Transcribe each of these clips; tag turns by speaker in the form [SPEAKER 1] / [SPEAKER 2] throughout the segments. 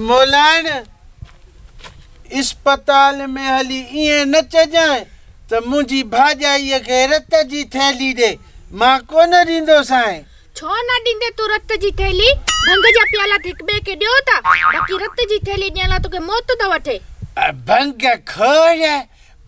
[SPEAKER 1] مولائڻ، اسپتال ۾ هلي ائين نه چئجانء ته منهنجي ڀاڄائيء کي رت جي ٿيلهي ڏي، مان ڪونه ڏيندوسانء. ڇو نه
[SPEAKER 2] ڏيندين تون رت جي ٿيلهي؟ ڀنگ جا پيالا ته هڪ ٻئي کي ڏيو ٿا، باقي رت جي ٿيلهي ڏيڻ لاء توکي موت ٿو وٺي. ڀنگ
[SPEAKER 1] خور،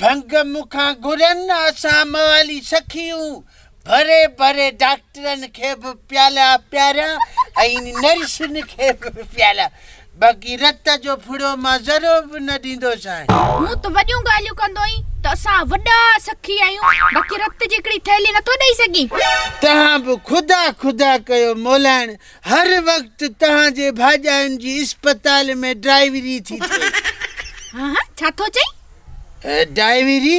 [SPEAKER 1] ڀنگ مون کان گهرن، اسان موالي سخي هون، ڀري ڀري ڊاڪٽرن کي به پيالا پياريا ۽ نرسن کي به پيالا باقي رت جو ڦڙو مان ذرو به نه ڏيندوسانء. مون ته وڏيون
[SPEAKER 2] ڳالهيون ڪندوئين ته اسان وڏا سخي آهيون باقي رت جي هڪڙي ٿيلهي نه ٿو ڏئي سگهين. توهان به
[SPEAKER 1] خدا خدا ڪيو مولائڻ هر وقت توهان جي ڀاڄاين جي اسپتال ۾ ڊرائيوري ٿي ٿئي. هه هه
[SPEAKER 2] ڇا ٿو چئين؟ ڊائيوري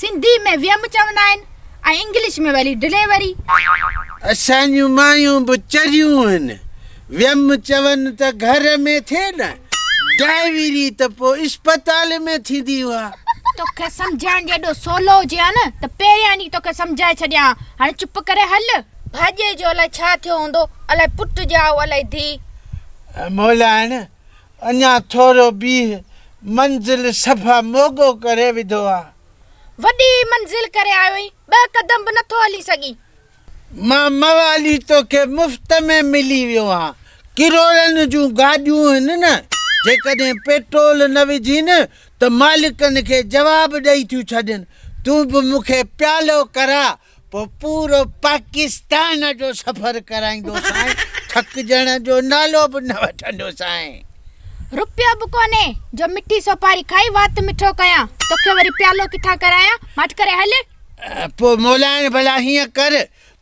[SPEAKER 2] سنڌي ۾ ويم چوندا آهن ۽ انگلش ۾ وري ڊليوري. اسان
[SPEAKER 1] جون مايون به چريون هن ويم چون ته گهر ۾ ٿئي نه ڊائيوري ته پو اسپتال ۾ ٿيندي اها. توکي سمجهائڻ
[SPEAKER 2] جي ايڏو سولو هجي ها نه ته پهريان ئي توکي سمجهائي ڇڏيان ها هاڻي چپ ڪري هل. ڀاڄي جو الائي ڇا ٿيو هوندو الائي پٽ ڄائو الائي ڌي. مولان
[SPEAKER 1] اڃا ٿورو بيهه، منزل صفا موڳو ڪري وڌو آ. وڏي ئي
[SPEAKER 2] منزل ڪري آيو آهين، ٻه قدم به نٿو هلي سگهين. مان
[SPEAKER 1] موالي توکي مفت ۾ ملي ويو آهان، ڪروڙن جون گاڏيون هن نه، جيڪڏهن پيٽرول نه وجهين ته مالڪن کي جواب ڏئي ٿيون ڇڏين، تون به مون کي پيالو ڪراء، پوء پورو پاڪستان جو سفر ڪرائيندوسانء، ٿڪجڻ جو نالو به نه وٺندوسانء. روپيو
[SPEAKER 2] به ڪونهي جو مٺي سوپاري کائي وات مٺو ڪيان، توکي وري پيالو ڪٿان ڪرايان، ماٺ ڪري هل. پوء
[SPEAKER 1] مولائڻ ڀلا هيئن ڪر،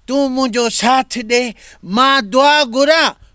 [SPEAKER 1] تون منهنجو ساٿ ڏي، مان دعا گهران،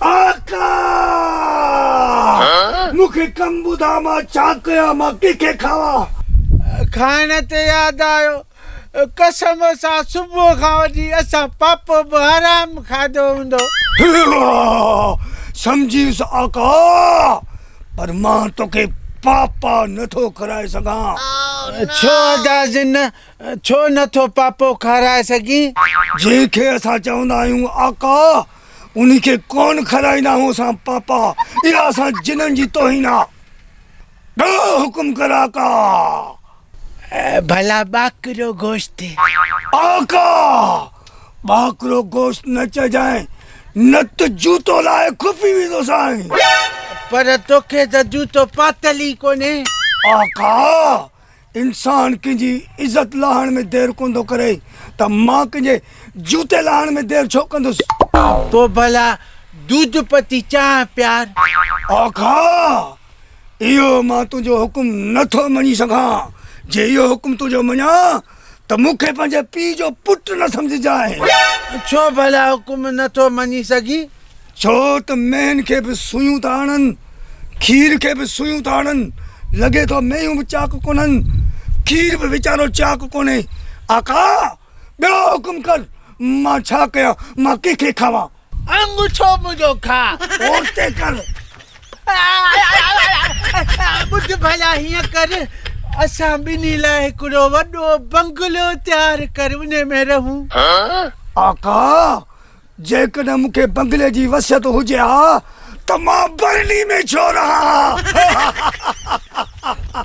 [SPEAKER 2] آقا!
[SPEAKER 3] مون کي ڪم ٻڌاء مان ڇا ڪيان؟ مان ڪنهن کي کاوان؟ کائڻ
[SPEAKER 1] تي ياد آيو، قسم سان صبح کان وٺي اسان پاپو به حرام کاڌو هوندو.
[SPEAKER 3] سمجهيس آقا، پر مان توکي پاپا نٿو کارائي سگهان. ڇو ادا
[SPEAKER 1] جن ڇو نه ٿو پاپو کارائي سگهين؟ جنهن کي
[SPEAKER 3] اسان چوندا آهيون آقا، انهي کي ڪونه کارائيندا آهيون اسان پاپا، اها اسان جنن جي توهين آ. ڏهه حڪم ڪر آقا! ڀلا
[SPEAKER 1] ٻاڪرو گوشت. آقا!
[SPEAKER 3] ٻاڪرو گوشت نه چئجانء، نه ته جوتو لاهي کپي ويندوسانء. پر
[SPEAKER 1] توکي ته جوتو پاتل ئي ڪونهي. آقا!
[SPEAKER 3] انسان ڪنهن جي عزت لاهڻ ۾ دير ڪونه ٿو ڪري ته مان ڪنهن جي جوتي لاهڻ ۾ دير ڇو ڪندس. پوء ڀلا
[SPEAKER 1] دودھ پتي چانهه پيار. آقا!
[SPEAKER 3] اهو مان تنهنجو حڪم نه ٿو مڃي سگهان، جي اهو حڪم تنهنجو مڃان ته مون کي پنهنجي پيء جو پٽ نه سمجهجانء. ڇو ڀلا
[SPEAKER 1] حڪم نه ٿو مڃي سگهين؟ ڇو ته
[SPEAKER 3] مينهن کي به سوئيون ٿا آڻن، کير کي به سوئيون ٿا آڻن، لڳي ٿو مينهيون به چاڪ ڪونهن، کير به ويچارو چاڪ ڪونهي. آقا! ٻيو حڪم ڪر، مان ڇا ڪيان، مان ڪنهن کي کاوان؟ آڱوٺو
[SPEAKER 1] منهنجو کاء. پورتي ڪر. ٻڌ ڀلا هيئن ڪر، اسان ٻنهي لاء هڪڙو وڏو بنگلو تيار ڪر، انهي ۾ رهون. آقا!
[SPEAKER 3] جيڪڏهن مون کي بنگلي جي وصيت هجي ها ته مان برلي ۾ ڇو رهان ها.